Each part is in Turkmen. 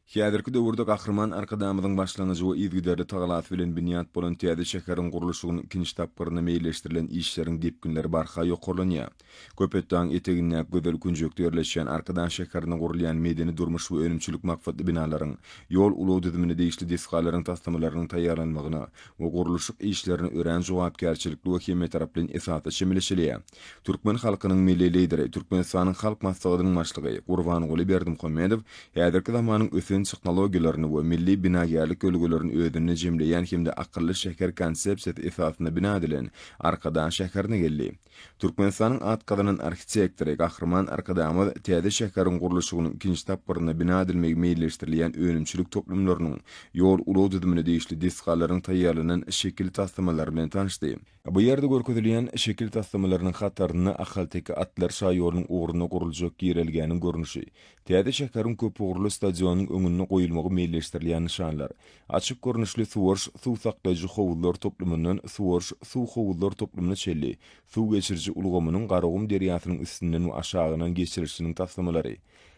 Häzirki döwürde Gahryman Arkadagymyzyň başlangyjy we yzygiderli tagalasy bilen binýat bolan täze şäheriň gurluşygynyň ikinji tapgyrynda meýilleşdirilen işleriň depginleri barha ýokarlanýar. Köpetdagyň etegindäki gözel künjekde ýerleşýän Arkadag şäherinde gurulýan medeni-durmuş we önümçilik maksatly binalaryň, ýol-ulag düzümine degişli desgalaryň taslamalarynyň taýýarlanmagyna we gurluşyk işlerine örän jogapkärçilikli we hemmetaraplaýyn esasda çemeleşilýär. Türkmen halkynyň Milli Lideri, Türkmenistanyň Halk Maslahatynyň Başlygy Gurbanguly Berdimuhamedow häzirki zamanyň ösen tehnologiýalaryny we milli binagärlik ýörelgelerini özünde jemleýän hem-de akylly şäher konsepsiýasy esasynda bina edilen Arkadag şäherine geldi. Türkmenistanyň at gazanan arhitektory Gahryman Arkadagymyz täze şäheriň gurluşygynyň ikinji tapgyrynda bina edilmegi meýilleşdirilýän önümçilik toplumlarynyň, ýol-ulag düzümine degişli desgalaryň taýýarlanan şekil taslamalary bilen tanyşdy. Bu ýerde görkezilýän şekil taslamalarynyň hatarynda ahalteke atlar şaýolunyň ugruna guruljak girelgäniň görnüşi, täze şäheriň köpugurly stadionynyň öňünde goýulmagy meýilleşdirilýän nyşanlar, açyk görnüşli suwaryş suw saklaýjy howuzlar toplumyndan suwaryş suw howuzlar toplumyna çenli suw geçiriji ulgamynyň Garagum derýasynyň üstünden we aşagyndan geçirilişiniň taslamalary,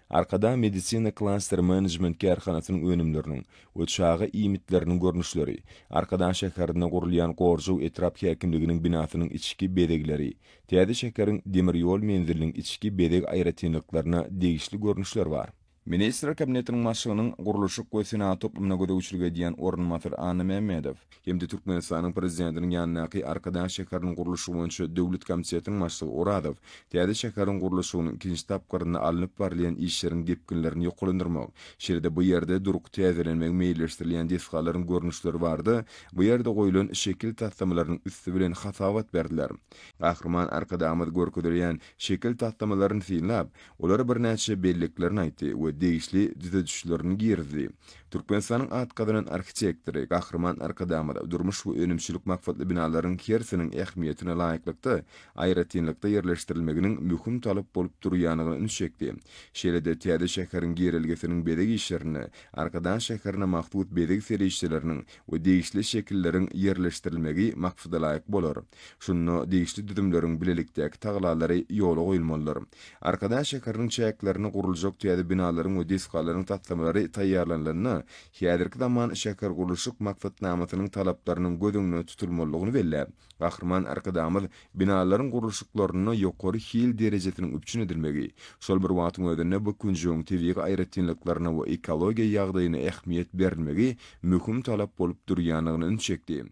Arkadag Medisina Klaster Management kärhanasynyň önümleriniň we çaga iýmitleriniň görnüşleri, Arkadag şäherinde gurulýan Gorjuw etrap häkimliginiň binasynyň içki bezegleri, täze şäheriň demir ýol menziliniň içki bezeg aýratynlyklaryna degişli görnüşler bar. Ministrler Kabinetiniň Başlygynyň gurluşyk we senagat toplumyna gözegçilik edýän orunbasary Annamämmedow, hem-de Türkmenistanyň Prezidentiniň ýanyndaky Arkadag şäheriniň gurluşygy boýunça döwlet komitetiniň başlygy Orazow täze şäheriň gurluşygynyň ikinji tapgyrynda alnyp barylýan işleriň depginlerini ýokulandyrmak, şeýle-de bu ýerde durky täzelenmegi meýilleşdirilýän desgalaryň görnüşleri barada bu ýerde goýlan şekil taslamalarynyň üsti bilen hasabat berdiler. Gahryman Arkadagymyz görkezilýän şekil taslamalaryny synlap, olara birnäçe belliklerini aýtdy we degişli düzedişlerini girizdi. Türkmenistanyň at gazanan arhitektory Gahryman Arkadagymyz durmuş we önümçilik maksatly binalaryň hersiniň ähmiýetine laýyklykda aýratynlykda ýerleşdirilmeginiň möhüm talap bolup durýanyna ünsi çekdi. Şeýle-de täze şäheriň girelgesiniň bezeg işlerinde Arkadag şäherine mahsus bezeg serişdeleriniň we degişli şekilleriň ýerleşdirilmegi maksadalaýyk bolar. Şunda degişli düzümleriň bilelikdäki tagallalary ýola goýulmalydyr. Arkadag şäheriniň çäklerinde guruljak täze binalaryň we desgalaryň taslamalary taýýarlanylanda, häzirki zaman şähergurluşyk maksatnamasynyň talaplarynyň göz öňünde tutulmalydygyny belläp, Gahryman Arkadagymyz binalaryň gurluşyklarynda ýokary hil derejesiniň üpjün edilmegi, şol bir wagtyň özünde bu künjegiň tebigy aýratynlyklaryna we ekologiýa ýagdaýyna ähmiýet berilmegi möhüm talap bolup durýandygyna ünsi çekdi.